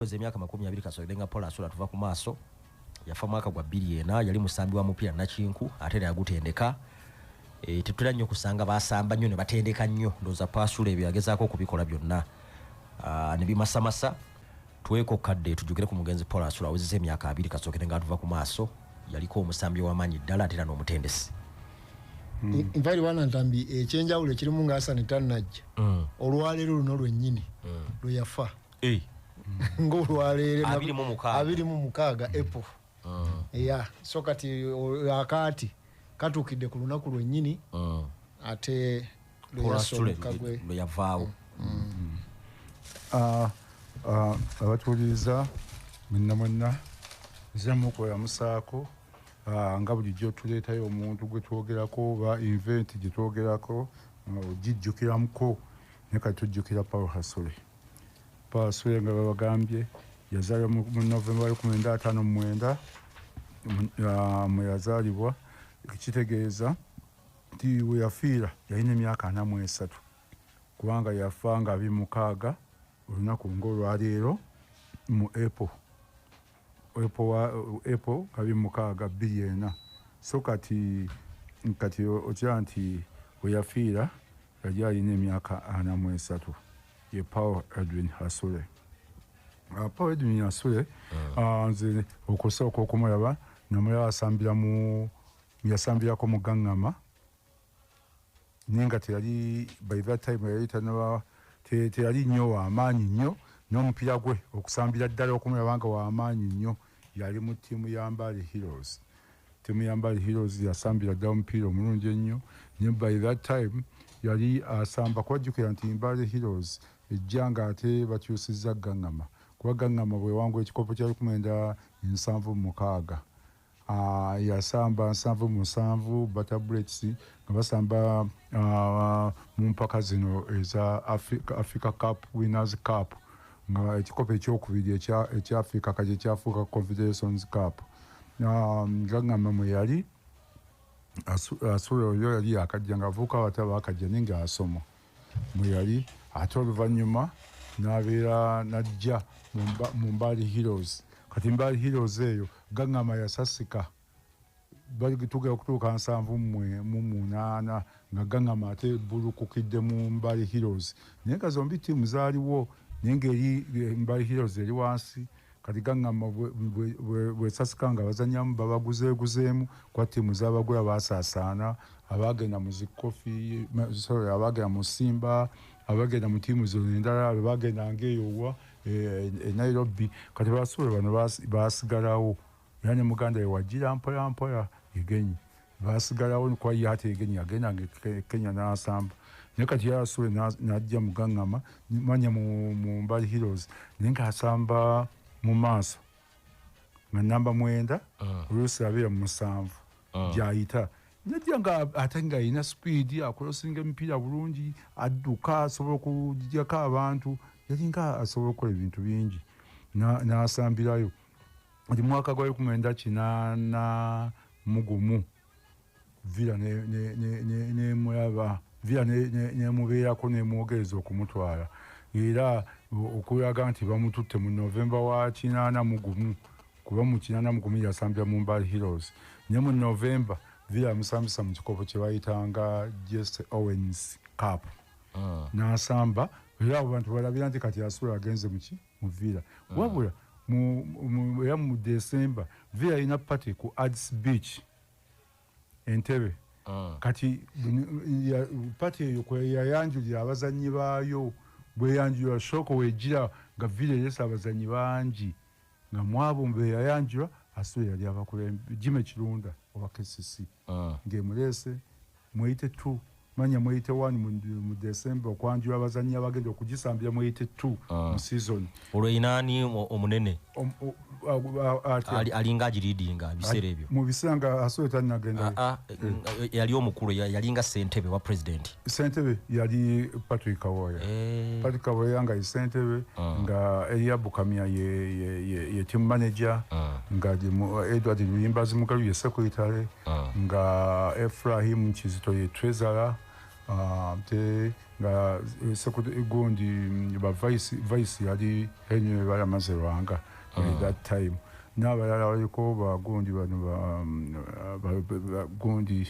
Weza emyaka makumi abiri kasoide nga Paul Asula tuva ku maaso yafa mwaka gwa bbiri ena yali musambi wa mupiira nakinku ate era yagutendeka e, tetutera nnyo kusanga basamba nnyo ne batendeka nnyo ndowooza Paasula ebyo yagezaako okubikola byonna ah, ne bimasamasa tweko kadde tujukire ku mugenzi Paul Asula awezeza emyaka abiri kasookere nga atuva ku maaso yaliko omusambi w'amaanyi ddala ate era n'omutendesi hmm. nva eri wana ntambi ekyenjawulo ekirimu nga asani tannajja hmm. olwaleero luno lwennyini hmm. lwe yafa eh. ng'olwaleero abiri mu mukaaga apple ah. ya so kati akaati katuukidde ku lunaku lwennyini ah. ate lweyasomukagweyavaawo mm. mm. ah, abatuwuliriza mwenna mwenna nzemukola musaako Ah, nga bulijjo tuleetayo omuntu gwe twogerako oba inventi gye twogerako ah, ogijjukiramko ne kati tujjukira paul hasole Paasule nga babagambye yazaalibwa mu Novemba lukumi nda ataano mu mwenda mwe yazaalibwa ekitegeeza nti we yafiira yalina emyaka ana mu esatu kubanga yafa nga abiri mukaaga olunaku ng'olwaleero mu April. epo wa epo kabi mukaaga bbiri ena so kati kati okira nti weyafiira yali alina emyaka ana mu esatu ye paul edwin hasule ah, paul edwin hasule ah. ah, nze okusooka okumulaba namulaba asambira mu yasambirako mu gaŋŋama naye nga teyali by that time yali tanaba teyali nnyo wamaanyi nnyo n'omupiira gwe okusambira ddala okumulaba nga wamaanyi nnyo yali mu ttiimu ya mbali heroes ttiimu ya mbali heroes yasambira ddala omupiira omulungi ennyo naye by that time yali asamba kubajjukira nti mbali heroes ejja nga ate bakyusizza gaŋŋama kuba gaŋŋama bwewangula ekikopo kya lukumenda ensanvu mukaaga Ah, yasamba nsanvu musanvu butter breaks nga basamba ah, mu mpaka zino eza Africa, Africa Cup Winners Cup nga ekikopo ekyokubiri ekya Africa kati ekyafuuka Confederations Cup ah, gagamba mwe yali asula oyo yali yakajja ng'avuuka abataba akajja naye ng'asoma mwe yali ate oluvannyuma n'abeera n'ajja mu mbaali heroes kati mbaali heroes eyo gaŋŋama yasasika tugera okutuuka nsanvu mwe mu munaana nga gaŋama ate bulukukidde mu mbali heroes naye nga zombi tiimu zaaliwo naye ngaeri eh, mbali heroes eri wansi kati gaŋŋamba bwesasika nga bazanyamu babaguzeeguzeemu kwa ttiimu zabagula baasaasaana abaagenda mu zikofi sorry abaagenda mu simba abaagenda mu ttiimu zino endala abaagendanga eyowa e, e, e nairobi kati basuula bano baasigalawo era ne muganda we wajira mpola mpola egenyi basigalawo nikuba ye ate egenyi agenda nga e kenya n'asamba naye kati yasule n'ajja mugangama manya mu mbali heroes naye ng'asamba mu maaso nga namba mwenda ah. oluusi abeera mu musanvu ah. gyayita najja nga ate nga alina sipiidi akolosinga emipiira bulungi adduka asobola okujjako abantu yalinga asobola okukola ebintu bingi n'asambirayo na nti mwaka gwa eku mwenda kinana mugumu vira nemulaba vira nemubeerako nemwogereza okumutwala era okulaga nti bamututte mu novemba wa kinana mugumu kuba mu kinana mugumu yasambira mu mbal heroes ne mu novemba vira yamusambisa mu kikopo kyebayitanga jesse owens cup ah. nasamba era abo bantu balabira nti kati asula agenze muki mu villa mm. wabula era mu december villa alina party ku ads beach entebe mm. kati party eyo kweyayanjulira abazannyi baayo bweyanjulira sooka wegira nga villa eresa abazannyi bangi nga mwabo mbeyayanjula asobe yali abakulembejime kirunda owa kcc mm. ngaemuleese Mweyite two manya mweyite one mu December okwanjula abazannyi abagenda okugisambira mweyite two ah. mu season. Olwo erina ani omunene? Alinga agiriidinga ebiseera ebyo. Mu biseera nga Asoyo tannagenda. Ah, ah, eh. eh, yali omukulu yalinga ssentebe wa president. Ssentebe yali Patrick Kawoya. Eh. Patrick Kawoya nga ye ssentebe nga Eliabu Kamya ye team manager nga Edward Luyimbazi Mugalu ye secretary. ah. nga efrahim kizito ye trezara ah, te nga eh, gundi mm, ba vice yali henry balamaze lwanga ah. that time n'abalala baliko bagundi bano bagundi mm,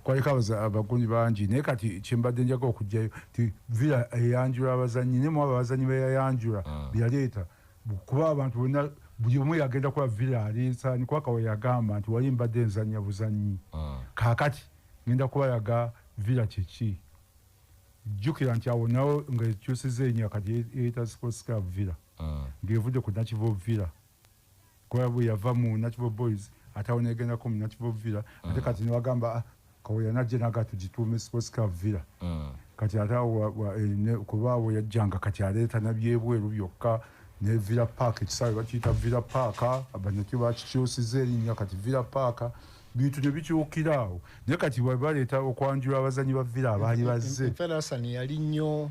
kwaliko abagundi bangi naye kati kyembadde njaga okugjayo ti villa eyanjula abazanyi nemu abo abazanyi beyayanjula byaleeta kuba abantu bonna buli omu yagenda kuba villa alinsa nikuba kawa yagamba nti wali mbadde nzanya buzanyi ah. kakati ngenda kuba yaga villa kyeki jjukira nti awo nawo nga ekyusiza enya kati eyita sports club villa ah. ng'evudde ku nakivo villa kuba bwe yava mu nakivo boys ate awo negendako mu nakivo villa ate ah. kati newagamba kawoya najja naga tugituume sports car villa mm. kati ate eh, kuba awo yajjanga kati aleeta nabyebweru byokka ne villa park ekisaawe bakiyita villa park abanaki bakikyusiza erinnya kati villa park bintu nebikyukira awo naye kati baleeta okwanjula abazanyi ba villa abaali bazze yali nnyo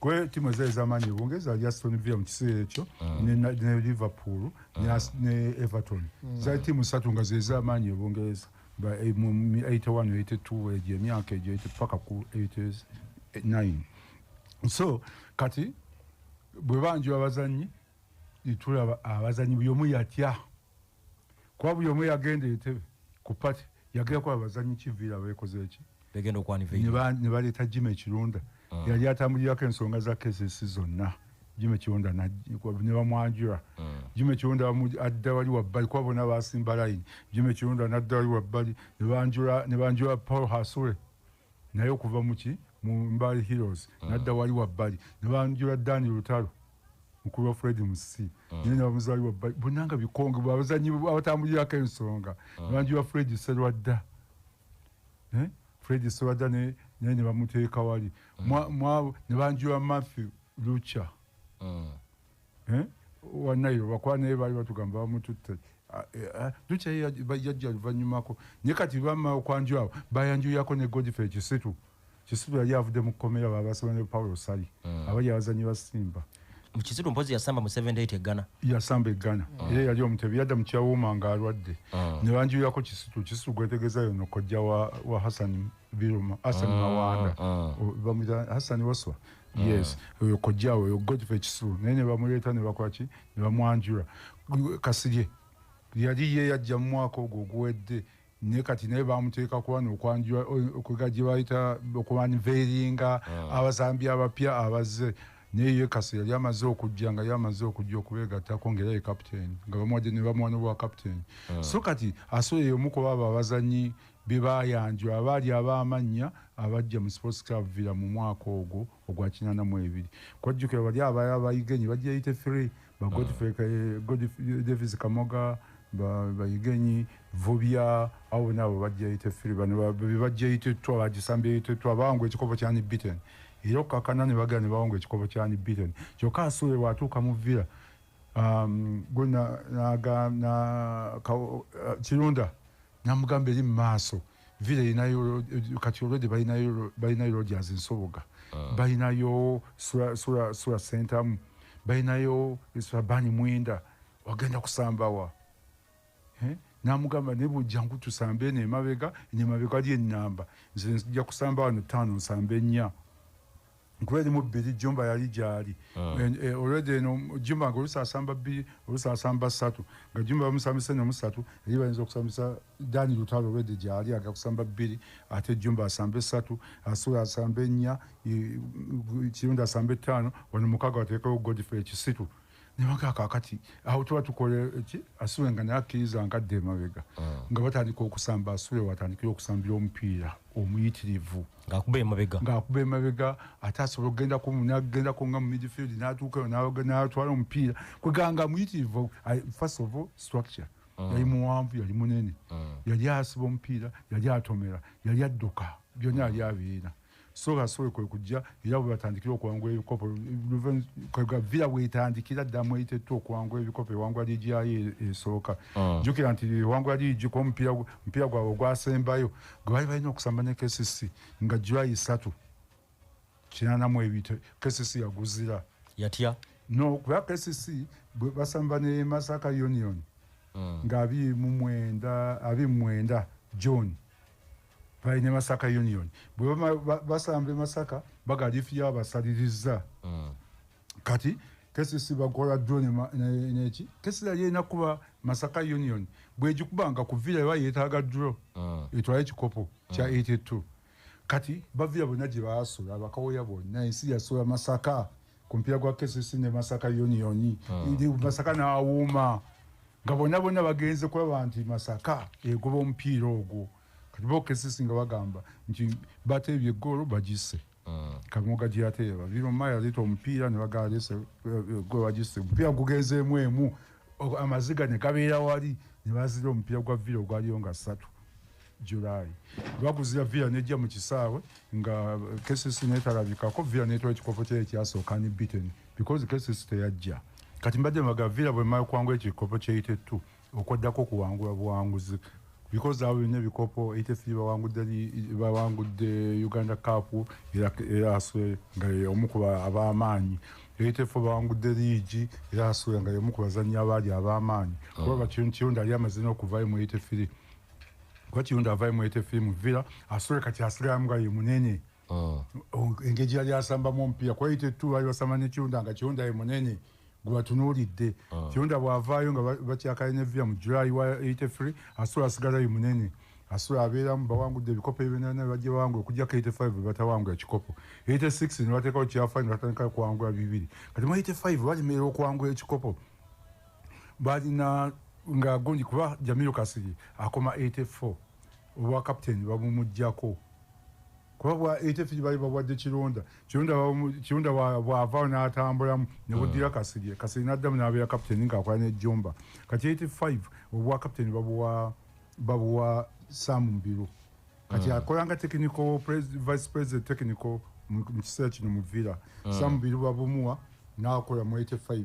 Kwe timu ezali zamanyi e Bungereza ali Aston Villa mu kiseera ekyo mm. ne, ne Liverpool mm. ne, ah. ne Everton mm. zali timu satu nga zeza amanyi e Bungereza ba 81 eh, 82 egyo emyaka egyo ete paka ku 89 so kati bwe banjula abazanyi tulaba abazanyi buli omu yatya kuba buli omu yagenda entebe ku pati yagenda kuba abazanyi kiviira bekoze eki ne baleeta jima ekirunda mm. yali atambulirako ensonga za kesesi zonna jima ekirunda ne bamwanjura mm. jima ekirunda adda wali wabbali kuba bona basimba layini jima ekirunda nadda wali wabbali ne banjura paul hasure naye okuva muki mu mbali heroes mm. nadda wali wabbali nebanjula dani lutalo mukulu wa fred musisi mm. naye nebamuzali wabbali bonanga bikonge abazanyi abatambulirako ensonga mm. nebanjula fred serwadda eh? fred serwadda naye nebamuteeka wali nebanjula matthew lucha eh? wanayo bakwana ebali batugamba bamututte ah, eh, ah, dukyayajja luvanyumako naye kati bama okwanju awo bayanjuyako ne godife ekisitu kisitu yali avudde mu kkomera babasaba ne paulo sali hmm. abali abazanyi basimba mukisitu mpozi yasamba mu 78 eggana yasamba eggana hmm. era yali omutebi yadda mukyawuuma nga alwadde hmm. ne banjuyako kisitu kisitu gwetegeza yono kojja wa hasani biruma hasani mawanda bamuyita hasani waswa yes mm. oyo kojja oyo godfrey kisulu naye ne bamuleeta ne bakola ki ne bamwanjula kasirye yali ye yajja mu mwaka ogwo oguwedde naye kati naye bamuteeka kuba nokwanjula okuga gye bayita okubanveeringa mm. abazambi abapya abazze naye ye kasi yali amaze okujja nga yamaze okujja okubeegattako ngaera ye kapiteeni nga bamuwadde ne bamuwa nobwa kapiteeni mm. so kati asobola yomukuba abo abazanyi be baayanjula abaali ab'amannya abajja mu Sports Club Villa mu mwaka ogwo ogwa kinaana mu ebiri. Kwajjukira bali abaali abayigenyi bajja yite three ba Godfrey ah. Davis Kamoga bayigenyi vubya abo bonna abo bajja yite three bano be bajja yite two abagisambye yite two abawangula ekikopo kyani beaten era okukakana ne bagala ne bawangula ekikopo kyani beaten kyokka asuule bw'atuuka mu Villa um, gwe kirunda namugamba eri mumaaso villa erinayo kati olwedde balinayo rogers nsoboga ah. balinayo sura sentamu balinayo surabani mwenda wagenda kusambawa eh? namugamba naye bujjangu tusambe eno emabega eno emabega ali enamba nze nja kusamba wano ttaano nsamba ennya nkuba erimu bbiri jumba yali gyali ah. eh, olwedda eno jumba nga olusi asamba bbiri olusi asamba ssatu nga jumba bamusambisa eno musatu eri bayinza okusambisa dani lutalo olwedda gyali agakusamba bbiri ate jumba asamba essatu asula asamba ennya kirundi asamba ettaano wano mukaaga wateekawo godfrey ekisitu nebaga kakati awo tuba tukola eki asule nga naye akkiriza nga adda emabega ah. nga batandika okusamba asule watandikira okusambira omupiira omuyitirivu ngaakuba emabega ngaakuba emabega ate asobola okugendako nagendako nga mu midfield natuukayo natwala omupiira kweganga muyitirivu first of all structure ah. yali muwanvu yali munene ah. yali asiba omupiira yali atomera yali adduka byonna yali abiina so basobole kwe kujja era bwe batandikira okuwangula ebikopo villa bwetandikira ddamu eitettwa okuwangula ebikopo ewangula liigi yayo esooka ah. jjukira nti ewangula liigi kuba omupiira gwabwe ogwasembayo gwe bali balina okusamba ne kcc nga july isatu kinanamu ebito kcc yaguzira yatya no kuba kcc basamba ne masaka union ah. nga abiri mu mwenda abiri mu mwenda john bali ne masaka union bwebama basamba emasaka bagalifiya abasalirizza mm. kati kesisi bakola dro neki kesisi yali erina kuba masaka union bwegikuba nga kuvira eba yetaaga dro mm. etwale ekikopo kya 82 mm. kati bavira bonna gye baasula bakawoya bonna ensi yasola masaka ku mpira gwa kcc ne masaka yoniyoni hmm. masaka n'awuuma nga bonna bonna bagenze kulaba nti masaka egoba omupiira ogwo kati bo kcc nga bagamba nti bateebye egoolo bagise hmm. kamoga gyeyateeba biroma yaleeta omupiira ne bagalese eh, gwe bagise omupiira gugenzeemu emu amaziga ne gabeera wali ne bazira omupiira gwa vira ogwaliyo nga ssatu July lwakuzira villa nejja mu kisaawe nga KCC netalabikako villa netwala ekikopo kyayo ekyasooka ni beaten because KCC teyajja kati mbadde mbaga villa bwemala okuwangula ekikopo kya 82 okwaddako okuwangula buwanguzi because abo byonna ebikopo 83 bawangudde bawangudde uganda cup era aswe nga omu ku ab'amaanyi 84 bawangudde liigi era aswe nga omu ku bazannyi abaali ab'amaanyi oh. kuba bakiyonda yali amaze n'okuvayo mu 83 kuba kirungi avayo mwete fiimu villa asole kati asigamu nga ye munene mm. engeri yali asambamu omupiira kuba yite tu bali basamba ne kirunda nga kirunda ye munene gwebatunuulidde mm. kirunda bwavaayo nga bakyakale ne villa mu july wa yite free asole asigala ye munene asula abeeramu bawangudde ebikopo ebinana bajja bawangula okujjako 85 bebatawangula kikopo 86 nebatekawo kyafayo nebatandika kuwangula bibiri kati mu 85 balemerera okuwangula ekikopo balina nga gundi kuba Jamilu Kasiri akoma 84 obwa captain babumujjako kuba bwa 83 bali babwadde Kironda Kironda Kironda bwava n'atambulamu ne buddira hmm. Kasiri Kasiri n'addamu n'abeera captain ng'akola ne Jomba kati 85 obwa captain babuwa babuwa Sam Mbiru kati hmm. akolanga technical vice president technical mu kiseera kino mu Villa hmm. Sam Mbiru babumuwa n'akola mu 85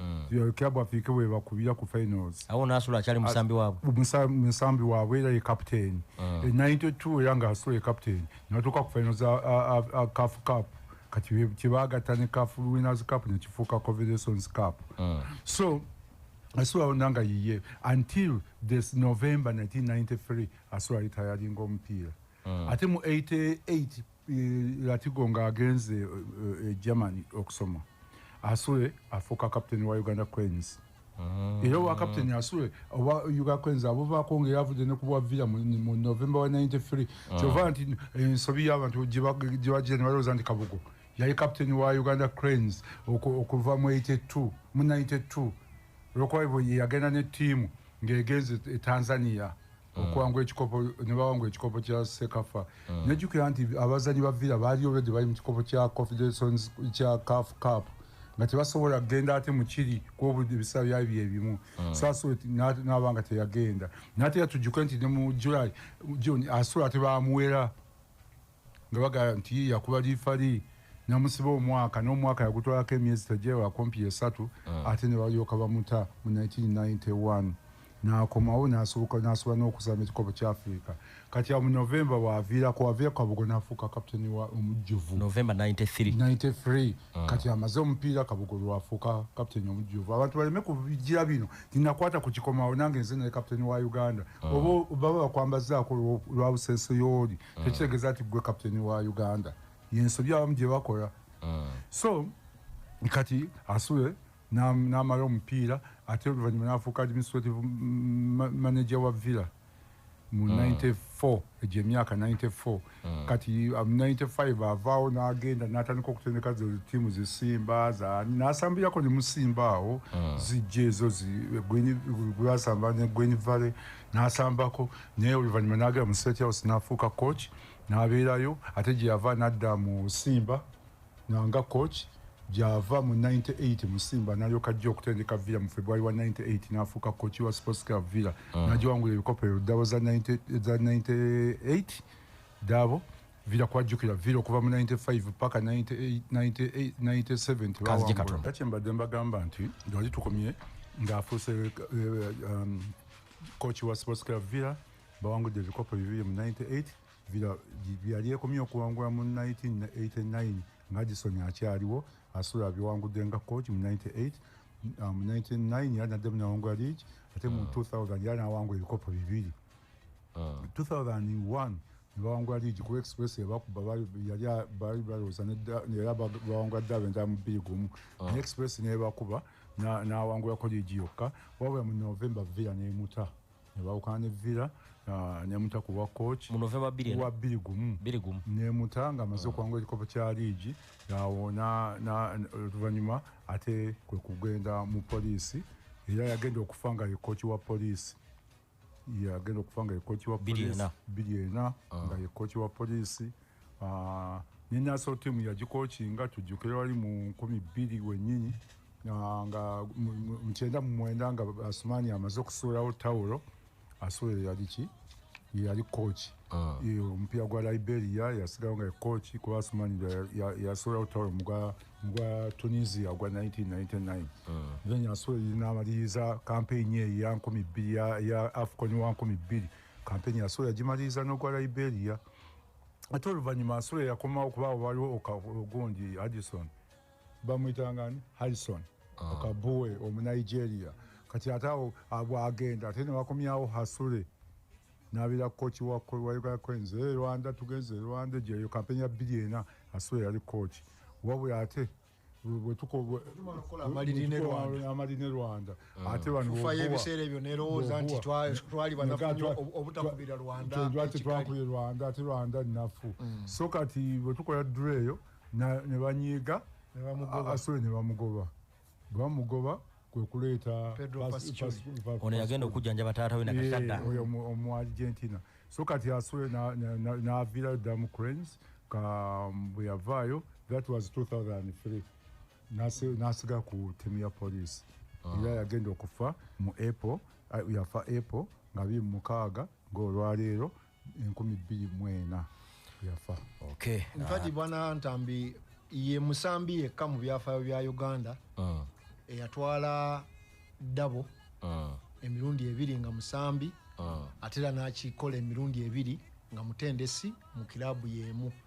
mm. club afike we bakubira ku finals awo nasula achali musambi wabwe musambi musambi wabwe era ye captain mm. in 92 yanga asula ye captain natuka ku finals a, a, a, a cup cup kati kibaga tani cup winners cup ne kifuka confederations cup mm. so asula onanga yiye until this november 1993 asula retiring ompira mm. ate mu 88 eh, latigo nga agenze eh, eh, germany okusoma asule afuuka captain wa uganda queens mm. era owa captain asule owa uganda queens abuvaako nga eravudde ne kubwa villa mu november wa 93 mm. kyova nti ensobi y'abantu gyebagira ne balowooza nti kabugo yali captain wa uganda cranes okuva mu 82 mu 92 olwokuba yagenda ne tiimu ng'egenze e tanzania mm. okwangwa ekikopo nebawangwa ekikopo kya sekafa mm. nejukira nti abazanyi ba villa baali olwedde bali mu kikopo kya confederations kya caf cup nga tebasobola kugenda ate mukiri kuba ebisaa byali byebimu mm. saso naba nga teyagenda nate yatujuke nti ne mu july june asobola tebamuwera nga bagala nti yakuba lifali namusiba omwaka n'omwaka yagutwalako emyezi tajewa kumpi esatu mm. ate ne balyoka bamuta mu 1991 nakomawo nasoboka nasobola n'okusaba ekikopo kya afirika kati awo mu novemba waviirako waviira kabugo nafuuka kapiteni wa omujjuvu novemba 93 93 mm. kati amaze omupiira kabugo lwafuuka kapiteni omujjuvu abantu baleme kubijira bino tinakwata ku kikomawo nange nze naye kapiteni wa uganda mm. oba baba bakwambazaako lwa busenso yooli mm. tekitegeeza nti gwe kaputeni wa uganda yensobi abamu gye bakola mm. so kati asule n'amala omupiira ate oluvannyuma n'afuuka administrative manager wa villa mu 94 mm. egyo emyaka 94 mm. kati 95 um, avaawo n'agenda n'atandika okutendeka tiimu zisimba n'asambirako ne musimba awo mm. zijja ezo gwasamba ne gwen valley n'asambako naye oluvannyuma n'agera mu state house n'afuuka coach n'abeerayo ate gye yava n'adda mu simba nga coach gyava mu 98 mu simba n'alyoka ajja okutendeka villa mu february wa 98 n'afuuka coach wa sports club villa mm. n'agiwangula ebikopo ebyo dabo za 98 dabo vira kwajjukira vira okuva mu 95 paka 97 tebawangula kyembadde mbagamba nti wali tukomye ng'afuuse eh, eh, um, coach wa sports club villa bawangudde ebikopo bibiri mu 98 villa yali ekomye okuwangula mu 1989 nga gisoni akyaliwo asula biwangudde nga coach mu 98 mu 99 yali naddemu nawangula league ate mu 2000 ah. yali nawangula ebikopo bibiri 2001 mm. nebawangula liigi kuba express ebakuba bali balowooza era bawangula ddabe ndaa mu bbiri gumu ah. ne express nebakuba nawangulako liigi yokka wabula mu november villa nemuta nebawukana ne villa ah, nemuta kuwa coach wa bbiri gumu nemuta nga amaze ah. okuwangula ekikopo kya liigi awo oluvanyuma ate kwe kugenda mu poliisi era yagenda okufa nga ye coach wa poliisi yagenda okufa nga yekoki wa biri ena ah. nga yekoki wa polisi ah, ne naso timu yagikoki nga tujukire wali mu nkumi biri wenyini ah, nga mkyenda mumwenda nga asumani amaze okusuulawo tawulo asuulero yaliki yali koki Ah. omupiira gwa liberia yasigawo nga ekoki kuba asumani yasobola kutwala omugwa tunisia ogwa 1999 ah. then yasobola namaliriza kampeyini eyo ya nkumi bbiri ya afcon wa nkumi bbiri kampeyini yasobola yagimaliriza n'ogwa liberia ate oluvannyuma asobola yakomawo kubaawo waliwo ogundi addison bamuyitangani harrison ah. okabuwe omunigeria kati ate awo bwagenda ate newakomyawo hasure nabira coach wa Uganda Cranes e Rwanda tugenze e Rwanda gye yo kampeni ya bbiri ena aswe yali coach wabula ate amaliri ne rwanda mm. ate banofayo ebiseera ebyo nerowooza nti twali banafunywa obutakubira rwandalwaki twakubye rwanda ate rwanda nafu mm. so kati bwetukola dura eyo nebanyiiga asole nebamugoba bamugoba kwekuleeta ono yagenda okujjanjaba taata we nakakadda oyo omu argentina so kati aswe n'aviirayo dda mu cranes um, bwe yavaayo that was 2003 n'asigala ku tiimu ya poliisi ah. era yagenda okufa mu apple yafa apple nga biri mu mukaaga ng'olwaleero enkumi bbiri mu ena yafa nfati ah. bwana ntambi ye musambi yekka mu byafaayo bya uganda ah. eyatwala ddabo ah. emirundi ebiri nga musambi ate era n'akikola emirundi ebiri nga mutendesi mu kiraabu y'emu uh.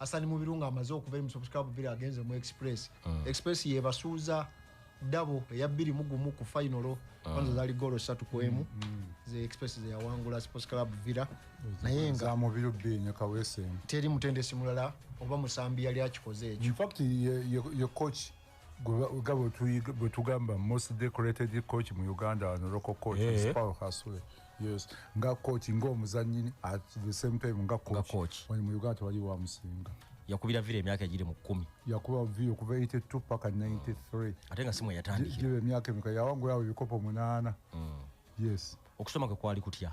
Asani Mubiru nga amaze okuva mu Super Cup bira agenze mu Express. Mm. Express yebasuuza dabo eya bbiri mu gumu ku final mm. kwanza mm. zali golo satu ku emu mm. mm. ze Express ze yawangula Sports Club Villa naye nga za Mubiru bi nyo kawese. Teri mutendesi mulala oba musambi yali akikoze ekyo. In fact ye, ye, ye coach nga bwetugamba most decorated coach mu uganda wano local coach yeah. is paul hasule yes nga coach nga omuzanyini at the same time nga coach, coach. wani mu uganda tewali wa musinga yakubira vira emyaka egiri mu kkumi yakuba vira okuva 82 paka 93 ate nga simu yatandikira emyaka emika yawangulawo ebikopo munaana mm. yes okusoma kwe kwali kutya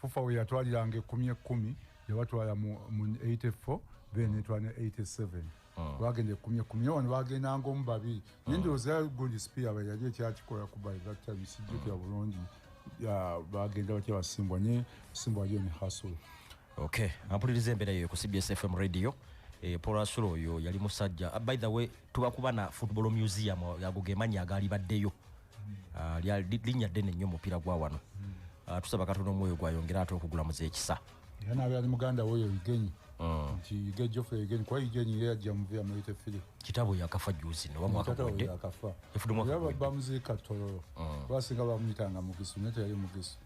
fufa we yatwaliranga ekkumi ekkumi yabatwala mu 84 then etwala ne 87 bagenda ekumi ekumi naye wano bagendanga omu babiri naye ndowooza gundi spear ba yali ekyakikola ku by that time sijjukira bulungi bagenda batya basimbwa naye simbwa aliyo ne hasol ok ampuliriza embeera yoyo ku cbs fm radio E, eh, porasula oyo yali musajja ah, by the way tubakuba na football museum ago gemanyi agaali baddeyo ah, linnya ddene nnyo omupiira gwa wano hmm. ah, tusaba katonda omwoyo gwayongera ate okugula muze ekisa era naabe ali muganda woyo igenyi hmm. nti ige jofe igenyi kuba igenyi era yajja muvi amuyite firi kitabo yakafa juzi newamwakabamuziika tololo hmm. basinga bamuyitanga mugisu naye teyali mugisu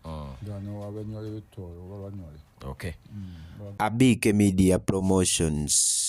ngano abanywale betoolo babanywale abiike media promotions